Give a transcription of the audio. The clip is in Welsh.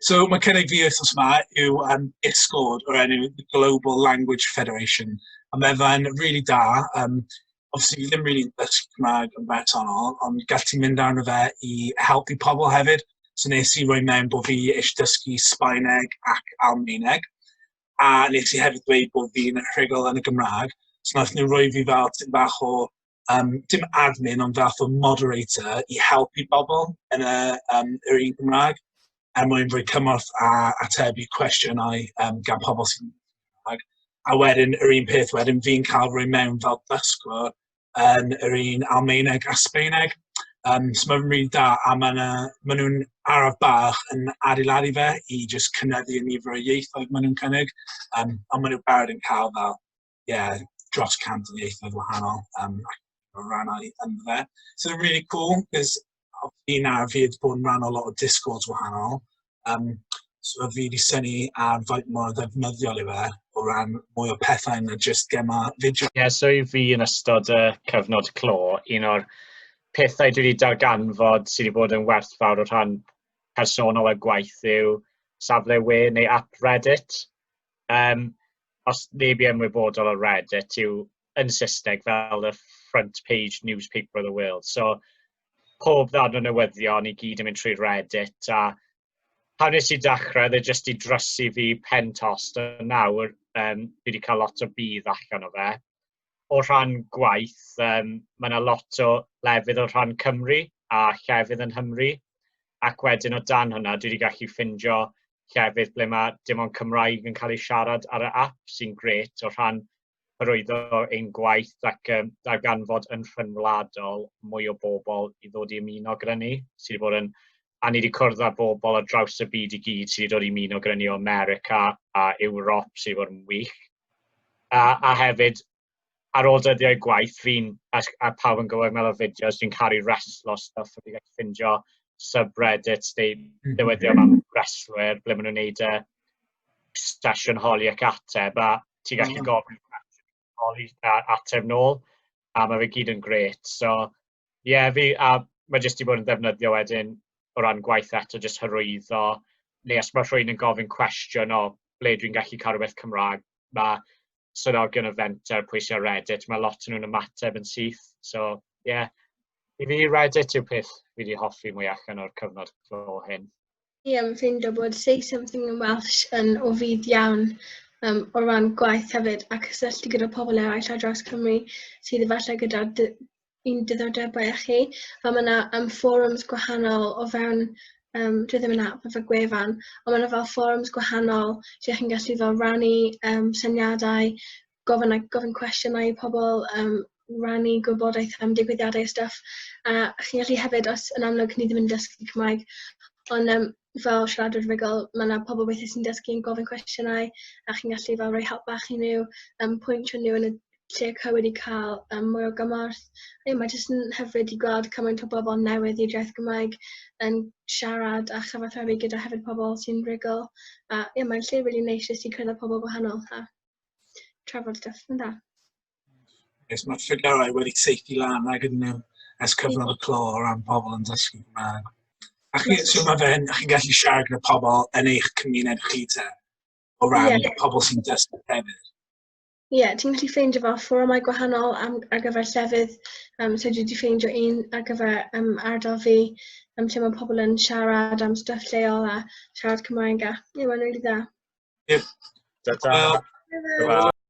So mae cynnig fi wythnos yma yw um, ISGORD o'r enw the Global Language Federation. A mae fe'n rili really da. Um, obviously, fi ddim really dysgu Cymraeg yn bersonol, ond gall ti mynd arno fe i helpu pobl hefyd. So nes i roi mewn bod fi eisiau dysgu Sbaeneg ac Almaeneg. A nes i hefyd dweud bod fi'n rhugl yn y Gymraeg. So nath nhw roi fi fel tyn bach o um, dim admin, ond fath o moderator i helpu bobl yn y, um, yr un Gymraeg er mwyn rhoi cymorth a atebu cwestiynau um, gan pobl sy'n Gymraeg. A wedyn, yr un peth wedyn, fi'n cael rhoi mewn fel dysgwr yn yr un Almaeneg a Sbeineg. Um, so mae'n rili da, a maen ma nhw'n araf bach yn adeiladu fe i jyst cynyddu y nifer o ieithoedd maen nhw'n cynnig, um, ond maen nhw'n barod yn cael fel yeah, dros cant o ieithoedd wahanol um, o rannau ynddo fe. So it's really cool, because fi na fi wedi bod yn rhan o lot o Discords wahanol. Um, so fi wedi syni ar faint mor ddefnyddiol i fe o ran mwy o pethau na just gema fideo. Ie, yeah, so i fi yn ystod y cyfnod clo, un o'r pethau dwi wedi darganfod sydd wedi bod yn werthfawr o rhan personol a gwaith yw safle we neu app Reddit. Um, os neb i ymwybodol o Reddit yw yn Saesneg fel y front page newspaper of the world. So, pob ddarn o newyddion i gyd yn mynd trwy Reddit a pan nes i dechrau, dde jyst i drysu fi pen tost a nawr um, fi wedi cael lot o bydd allan o fe. O rhan gwaith, um, mae yna lot o lefydd o rhan Cymru a llefydd yn Hymru ac wedyn o dan hwnna dwi wedi gallu ffindio llefydd ble mae dim ond Cymraeg yn cael ei siarad ar y app sy'n gret o rhan hyrwyddo ein gwaith ac um, darganfod yn rhyngwladol mwy o bobl i ddod i ymuno gyda ni, sydd wedi bod yn a ni wedi cwrdd â bobl o draws y byd i gyd sydd wedi dod i ymuno gyda ni o America a Ewrop sydd wedi bod yn wych. A, a hefyd, ar ôl dyddiau gwaith fi'n, a, a pawb yn gwybod meddwl fideos, fi'n caru reslo stuff, a fi'n gallu ffindio subreddits, neu mhm. dyweddio am reslwyr, ble maen nhw'n neud y sesiwn holi ac ateb, a ti'n gallu mhm. gofyn holi a ateb nôl, a mae fe gyd yn gret. So, Ie, yeah, fi, a mae jyst i bod yn defnyddio wedyn o ran gwaith eto, jyst hyrwyddo, neu os mae rhywun yn gofyn cwestiwn o ble dwi'n gallu cael rhywbeth Cymraeg, mae swyddogion y fenter, pwy sy'n Reddit, mae lot yn nhw'n ymateb yn syth. So, ie, yeah. i fi Reddit yw peth fi wedi hoffi mwy allan o'r cyfnod clo hyn. Ie, fi'n ffeindio bod Say Something in Welsh yn o fudd iawn um, o ran gwaith hefyd a cysylltu gyda pobl eraill ar draws Cymru sydd efallai gyda dy, un diddordebau â chi. A mae yna um, forums gwahanol o fewn, um, dwi ddim yn app efo gwefan, ond mae yna fel forums gwahanol lle chi'n gallu fel rannu um, syniadau, gofyn like, gofyn cwestiynau i pobl, um, rannu gwybodaeth am digwyddiadau a stuff. A chi'n gallu hefyd, os yn amlwg ni ddim yn dysgu Cymraeg, ond um, fel siaradwyr rygol, mae yna pobl weithiau sy'n dysgu yn gofyn cwestiynau a chi'n gallu fel rhoi help bach i nhw, um, pwyntio nhw yn y lle cywir i cael um, mwy o gymorth. A ie, mae jyst yn hyfryd i gweld cymaint o bobl newydd i'r iaith Gymraeg yn siarad a chyfathrebu gyda hefyd pobl sy'n rygol. A ie, mae'n lle rili really neis jyst i cyrraedd pobl gwahanol. Ha. trafod stuff yn da. Yes, mae'r ffigurau wedi teithi lan ag yn um, ers cyfnod y clo o ran pobl yn dysgu Cymraeg. A chi, so mae fe'n, chi'n gallu siarad gyda pobl yn eich cymuned chi te, o ran yeah. pobl sy'n dysgu hefyd. Ie, yeah, ti'n gallu ffeindio fel fforymau gwahanol am, ar gyfer llefydd. Um, so dwi wedi ffeindio un ar gyfer um, ardal fi, um, lle mae pobl yn siarad am stuff lleol a siarad Cymraeg a ie, mae'n rili dda. Ie. Da da. Hwyl.